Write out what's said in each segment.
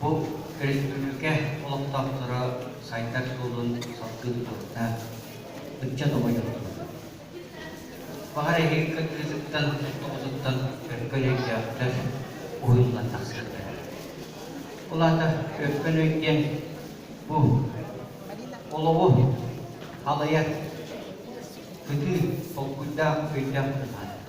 Бу өрөспүүбүлүкэ олохтоохторо сайдар суолун салгыы тутуохтаах ыччат оҕонньордоро. Баҕар эһиги кыргыытыттан, тоҕотуттан өкпөн өйдөөхтөр, уһуннуган тахсыахтара. Ол аата өкпөн өй диэн бу олоҕу халыйар кытыы толкуйдаах өйдөөх быһаарар.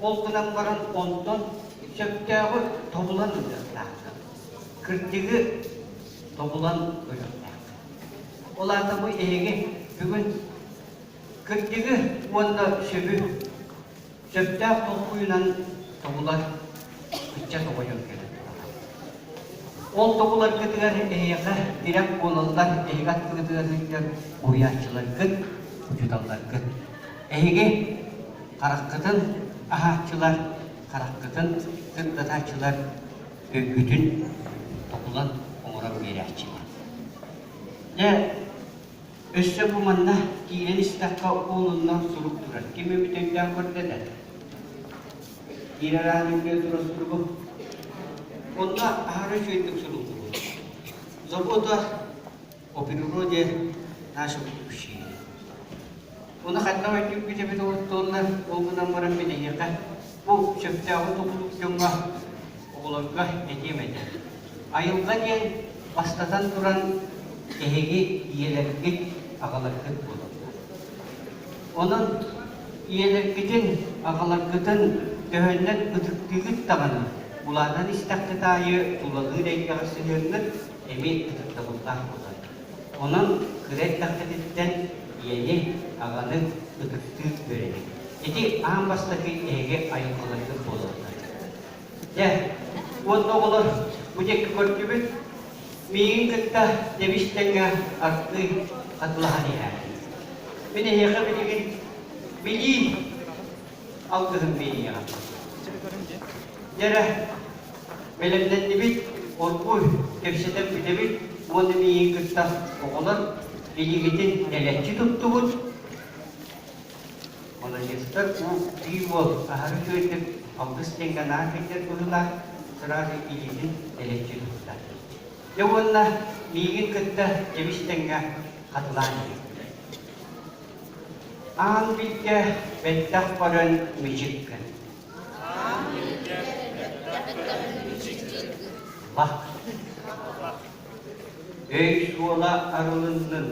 Ол гынан баран онтон сөптөөҕү тобулан ылыахтаахтар. Кырдьыгы тобулан ылыахтаахтар. Ол аата бу эһиги бүгүн кырдьыгы уонна сөбү сөптөөх толкуйунан тобулар ыччат оҕойон кэлэн тураҕа. Ол тобуларгытыгар эһиэхэ тирэх буолаллар, эһиги аттыгытыгар сылдьар уһуйааччыларгыт, учууталларгыт Эһиги хараххытын аһааччылар, хараххытын кырдатааччылар, өйгүтүн токулан оҥорор биэрээччилэр. Дьэ, өссө бу манна киирэн истэххэ уолуннар сурук турар. Ким эбит өйдөөх көрдө да? Киирэр аатын билэ турар суругу. Онно аһара үчүгэйдик суруллубут. Забота о природе нашем общении. Оны ханна ойдюк эбит олуттуолла ол гынан баран билиеха бу сөптөөҕү тулук дьоҥҥо оҕолорго этиэм этэ. Айылҕа диэн бастатан туран эһиги ийэлэргит, аҕаларгыт буолаллар. Онон ийэлэргитин, аҕаларгытын төһөннөн ытыктыыгыт даҕаны, улаатан истэххит аайы тулалыыр эйгэҕэ сыһыаҥҥыт эмиэ ытыктабыллаах буолар. Онон кыра эрдэххититтэн ийэни, аҕаны ытыктыы үөрэниҥ. Ити аан бастакы эһиги айылҕаларгыт буолаллар. Дьэ, уонна оҕолор, бу диэкки көрдүбүт. Миигин кытта Дьэбис тэҥҥэ ардыы хатылаһан иһээри. Мин эһиэхэ билигин билиим, алгыһым биэриэҕим. Дьэ эрэ, бэлэмнэннибит, оргу кэпсэтэн бүтэбит уонна миигин кытта оҕолор билигитин тэлэччи туттубут. Маладьыстар уу биир уол аһары үөрдүк алгыс диэн ганаан кэлдэр быһыылаах сразу илиитин тэлэччи тутта. Дьэ уонна миигин кытта дьэбистэҥҥэ хатылаан иһиттэ. Аан билгэ бэттэх баран мичик гын. Өй-суола арылыннын.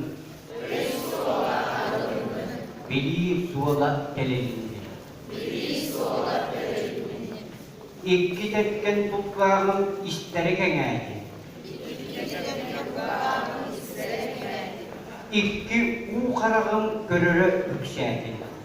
Билии суола тэлиннин. Икки тэккэн булкааҕын истэрэ кэҥээтин. Икки уу хараҕын көрөрө үксээтин.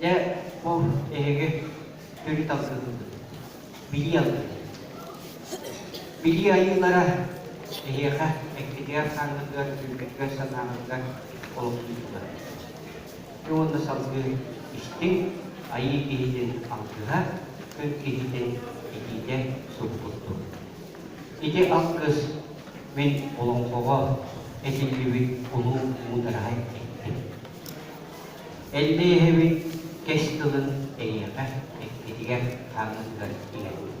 Дьэ, бу эһиги төрүт алгыһыгыт. Билии алгыһы. Билии айыылара эһиэхэ эккитигэр хааныгар, түргэтгэр санааҕытыгар олохтууллар. Ити уонна салгыы истиҥ айыы киһитин алгыһа, күн киһитин итиитэ сур курдук. Ити алгыс мин олоҥхоҕо этиллибит улуу муудараһа эттим. Эллиэһэбин кэс тылын эйиэхэ эккитигэр хаамыытыгар иҥэрбин.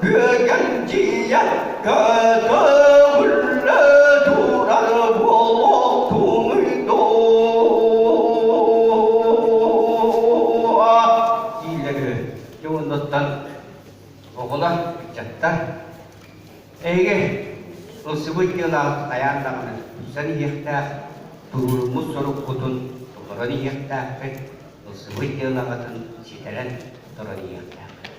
Күөкэндийэ көтөҕүллэ турар буолуохтунуй доо диилэр үһү. Дьэ оннуттан оҕолор, ыччаттар эйиги Росыбыт диэн ааты хайаан даҕаны тупсан иһиэхтээх туруоруммут соруккутун толорон иһиэхтээххит, Росыбыт диэн аҕатын ситэрэн туран иһиэхтээххит.